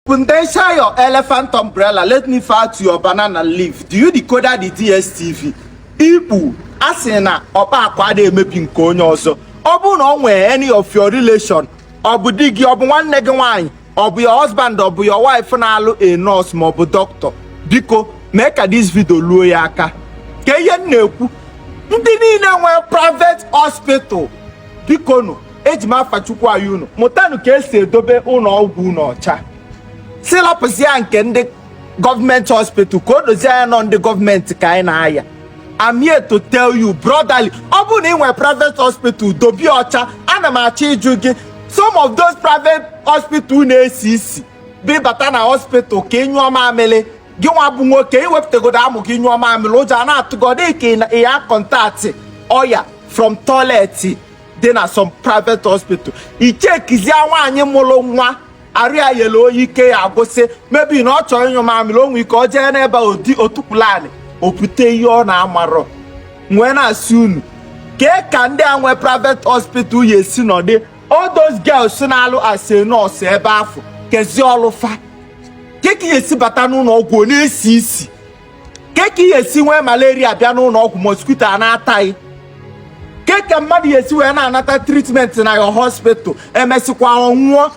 Potential your elephant umbrella, let me fire to your banana leaf. Do you decode the DSTV? Igbo asị na ọkpa akwa adịghị emebi nke onye ọzọ. Ọ bụrụ na o nwere any of your relation, ọ bụ di gị, ọ bụ nwanne gị nwaanyị, ọ bụ your husband, ọ bụ your wife na-alụ a nurse ma ọ bụ doctor. Biko mee ka this video luo ya aka. Kee ihe m na-ekwu, ndị niile nwere private hospital, bikonụ eji m afa Chukwu ayọ unu mụtanụ ka esi edobe ụlọ ọgwụ unu ọcha sị lapụzie nke ndị gọọmenti hospital ka o dozie anya na ọ ndị gọọmenti ka anyị na-ayọ I'm here to tell you brotherly ọ bụrụ na ị nwere private hospital dobe ya ọcha ana m achọ ịjụ gị some of those private hospital na-esi isi bụ ị bata na hospital ka ị nyụọ mamịrị gị nwa bụ nwoke i wepụtagodu amụ gị nyụọ mamịrị ụjọ a na-atụgodị ka ị ya contact ọya from toilet dị na some private hospital i chekizie nwaanyị mụrụ nwa arụ ya yele oye ike ya agwụsị maybe na ọ chọrọ ịnyụ mamịrị o nwee ike o jee n'ebe ọ dị o tukwulu anị o bute ihe ọ na-amarọ m wee na-asị unu kee ka ndị a nwee private hospital ya-esi nọdị all those girls na-alụ as a nurse ebe afụ keezi ọlụ fa kee ka ị ya-esi bata n'ụlọ ọgwụ ọ na-esi isi kee ka ị ya-esi nwee malaria bịa n'ụlọ ọgwụ mosquito a na-ata gị kee ka mmadụ ya-esi wee na-anata treatment na your hospital emesịkwa ọ nwụọ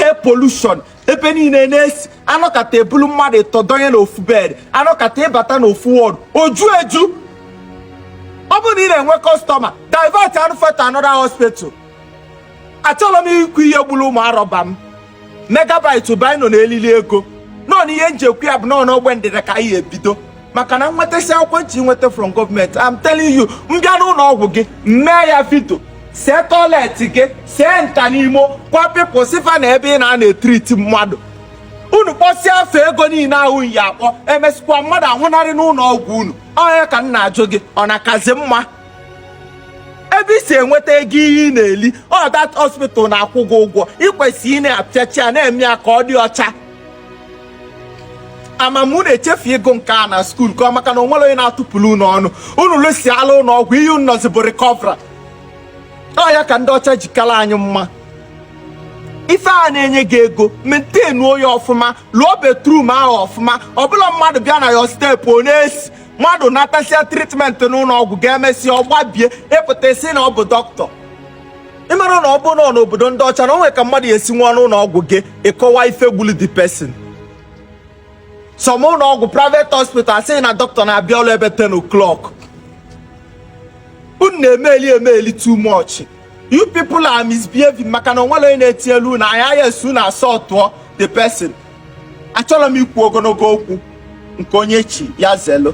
air pollution ebe niile na-esi anọkata ebulu mmadụ ịtọ donye n'ofu bed anọkata ị bata n'ofu ward o ju eju ọ bụrụ na ị na-enwe customer divertịanụ fa to another hospital achọrọ m ikwu ihe gburu ụmụ arọba m megabyte bino na elili ego nọ n'ihe m je-ekwu ya bụ na ọ n'ogbe ndịda ka anyị ebido maka na m nwetasịa akwụkwọ m chọ inweta from gọọmenti I'm telling you m bịa n'ụlọ ọgwụ gị mee ya video see toilet gị see nta na imo kwa pịpụ sifa na ebe ị na-anọ etriti mmadụ unu kpọsịa fa ego niile ahụ ị ya-akpọ emesịkwa mmadụ anwụnarị n'ụlọ ọgwụ unu onye ka m na-ajụ gị ọ na-akazi mma ebe i si enweta ego ihe ị na-eli ọ that hospital na-akwụ gị ụgwọ i kwesị ịna-afịcha ya na-eme ya ka ọ dị ọcha ama m unu echefu ịgụ nke a na skuul ka ọ maka na o nwere onye na-atụpụrụ unu ọnụ unu lụsịala ụlọ ọgwụ ihe unu nọzi bụ recover ọ ya ka ndị ọcha jikala anyị mma ife a na-enye gị ego maintainuo ya ọfụma lụọ bathroom ahụ ọfụma ọbụla mmadụ bịa na your step ọ na-esi mmadụ natasịa treatment n'ụlọ ọgwụ gị emesịa ọ gbabie ị pụta ị sị na ọ bụ dọkịta ị mara na ọ bụ nọ n'obodo ndị ọcha na o nwere ka mmadụ ya-esi nwụọ n'ụlọ ọgwụ gị ị kọwa ife gbulu the person some ụlọ ọgwụ private hospital a sị na dọkịta na-abịa ọrụ ebe 10 o'clock unu na-emeli emeli too much you people are misbehaving maka na o nwere onye na-etinyelu unu anya yes unu asọtụọ the person achọrọ m ikwu ogologo okwu nke onye chi ya zelu